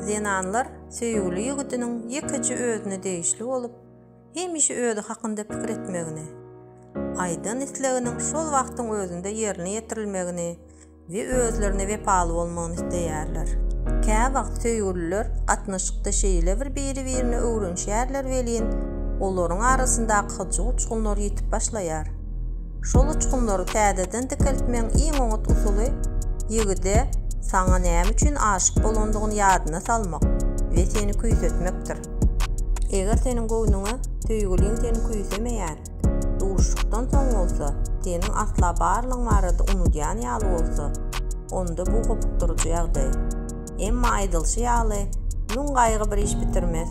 Zenanlar söýgüli ýigidiniň ýekeje özüne degişli bolup, hemişe özi hakynda pikir etmegini, aýdan isleginiň şol wagtyň özünde ýerine ýetirilmegini we özlerine wepaly bolmagyny isleýärler. Käwagt söýgüliler gatnaşykda şeýle bir biri-birine öwrenişýärler welin, olaryň arasyndaky hyjuw uçgunlary ýitip başlaýar. Şol uçgunlary täzeden dikeltmegiň iň oňat usuly ýigide saňa näme üçin aşyk bolandygyny ýadyna salmak we seni küýsetmekdir. Eger seniň göwnüňe söýgüliň seni küýsemeýän, duşuşykdan soň bolsa, seniň asla barlygyň barada unudýan ýaly bolsa, onda bu hopukdyryjy ýagdaý. Emma aýdylşy ýaly, müň gaýgy bir iş bitirmez.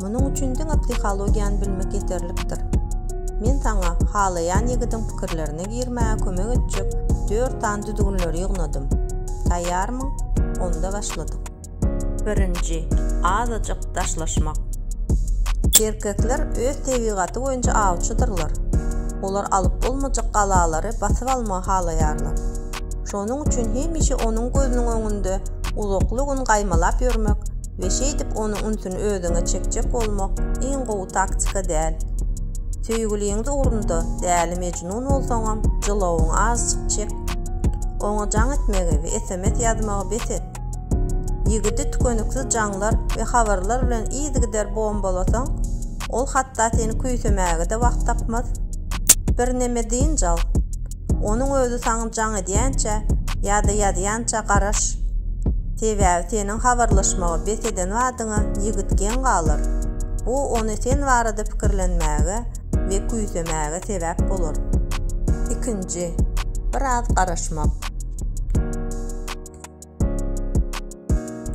Munuň üçin diňe psihologiýany bilmek ýeterlikdir. Men saňa halaýan ýigidiň pikirlerine girmäge kömek etjek dört sany düzgünleri ýygnadym. Taýýarmyň? Onda başladyk. Birinji, azajyk daşlaşmak. Erkekler öz tebigaty boýunça awçydyrlar. Olar alyp bolmajak galalary basyp almagy halaýarlar. Şonuň üçin hemişe onuň gözüniň öňünde uzakly gün gaýmalap ýörmek we şeýdip onuň ünsüni özüňe çekjek bolmak iň gowy taktika däl. Söýgüliňiz ugrunda däli mejnun bolsaňam jylawyňy azjyk çek. Oňa jaň etmegi we sms ýazmagy bes et. Ýigidi tükeniksiz jaňlar we habarlar bilen yzygider bombalasaň, ol hatda seni küýsemäge-de wagt tapmaz. Birneme dynç al. Onuň özi saňa jaň edýänçä ýa-da ýazýança garaş. Sebäbi seniň habarlaşmagy bes eden badyňa ýigit geň galar. Bu ony sen barada pikirlenmäge we küýsemäge sebäp bolar. Ikinji, biraz garaşmak.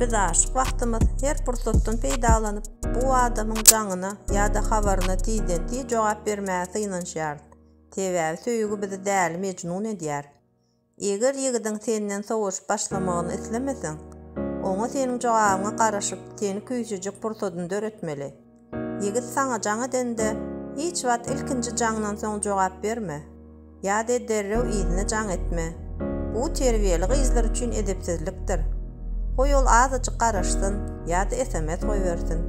Biz aşyk wagtymyz her pursatdan peýdalanyp, bu adamyň jaňyna ýa-da habaryna tizden-tiz jogap bermäge synanyşýarys. Sebäbi söýgi bizi däli mejnun edýär. Eger ýigidiň senden sowaşyp başlamagyny islemeseň, oňa seniň jogabyňa garaşyp, seni küýsejek pursadyny döretmeli. Ýigit saňa jaň edende, hiç wagt ilkinji jaňdan soň jogap berme. Ýa-de derrew yzyna jaň etme. Bu terbiýeli gyzlar üçin edepsizlikdir. Goý ol azajyk garaşsyn ýa-da sms goýbersin.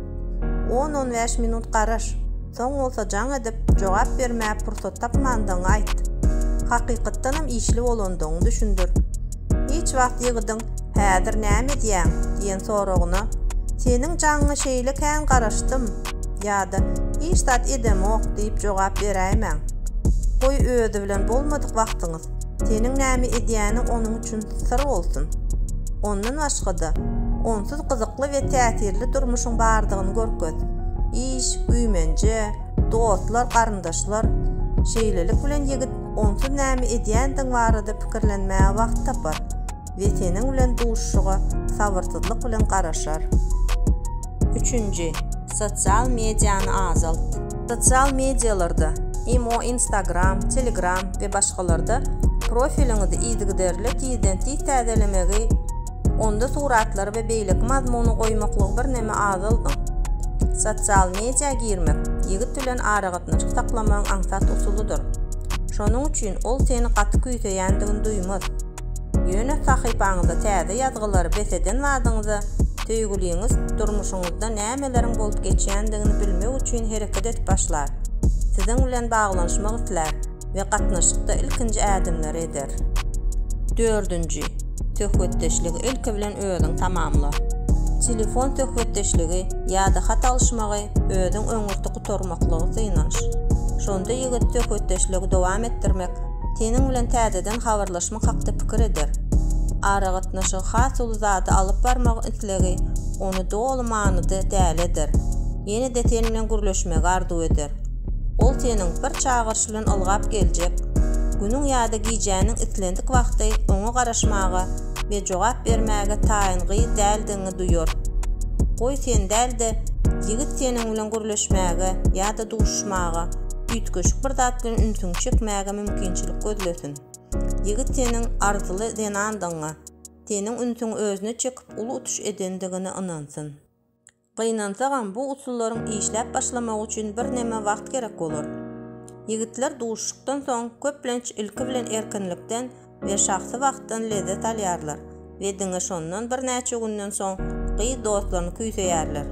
On-on bäş minut garaş, soň bolsa jaň edip, jogap bermäge pursat tapmandygyňy aýt. Hakykatdanam işli bolandygyňy düşündir. Hiç wagt ýigidiň Häzir näme edýäň? diýen soragyna Seniň jaňyňa şeýle kän garaşdym ýa-da Hiç zat edemok diýip jogap beräýmäň. Goý özi bilen bolmadyk wagtyňy Seniň näme edýäniň onuň üçin syr bolsun. Ondan başga-da, onsuz gyzykly we täsirli durmuşyň bardygyny görkez. Iş, güýmenje, dostlar, garyndaşlar. Şeýlelik bilen ýigit onsuz näme edýändigiň barada pikirlenmäge wagt tapar. we seniň bilen duşuşyga sabyrsyzlyk bilen garaşar. Üçünji, sosial mediany azalt. Sosial medialarda, imo, Instagram, Telegram we başgalarda profiliňizi yzygiderli tizden-tiz täzelemegi, onda suratlary we beýleki mazmuny goýmaklygy birneme azaldyň. Sosial media girmek ýigit bilen aragatnaşyk saklamagyň aňsat usulydyr. Şonuň üçin ol seni gaty küýseýändigini duýmaz. Ýöne sahypaňyza täze ýazgylary bes eden badyňyza, söýgüliňiz durmuşyňyzda nämeleriň bolup geçýändigini bilmek üçin hereket edip başlar, siziň bilen baglanyşmak islär we gatnaşykda ilkinji ädimleri eder. Dördünji, söhbetdeşligi ilki bilen özüň tamamla. Telefon söhbetdeşligi ýa-da hat alyşmagy özüň öňürti gutarmaklygy synanyş. Şonda ýigit söhbetdeşligi dowam etdirmek Seniň bilen täzeden habarlaşmak hakda pikir eder. Aragatnaşygy has uly zada alyp barmak islegi ony doly manyda däli eder. Ýene-de sen bilen gürleşmegi arzuw eder. Ol seniň bir çagyryş bilen ylgap geljek günüň ýa-da gijäniň islendik wagty oňa garaşmaga we jogap bermäge taýyn gyz däldigiňi duýar. Goý sen däl-de, ýigit seniň bilen gürleşmäge ýa-da duşuşmaga üýtgeşik bir zat bilen ünsüňi çekmäge mümkinçilik gözlesin. Ýigit seniň arzyly zenandygyňa, seniň ünsüňi özüne çekip uly utuş edendigine ynansyn. Gynansagam, bu usullaryň işläp başlamagy üçin birneme wagt gerek bolar. Ýigitler duşuşykdan soň, köplenç ilki bilen erkinlikden, we şahsy wagtdan lezzet alýarlar we diňe şondan birnäçe günden soň gyz dostlaryny küýseýärler.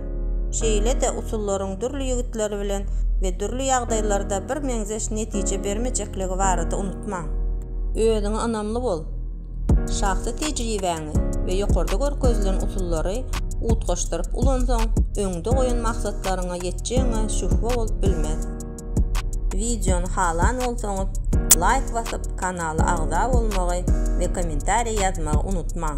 Şeýle-de usullaryň dürli ýigitler bilen we dürli ýagdaýlarda birmeňzeş netije bermejekligi barada unutmaň. Özüňe ynamly bol. Şahsy tejribäňi we ýokarda görkezilen usullary utgaşdyryp ulansaň, öňde goýan maksatlaryňa ýetjegiňe şübhe bolup bilmez. Wideony halan bolsaňyz laýk basyp kanala agza bolmagy we kommentariý ýazmagy unutmaň.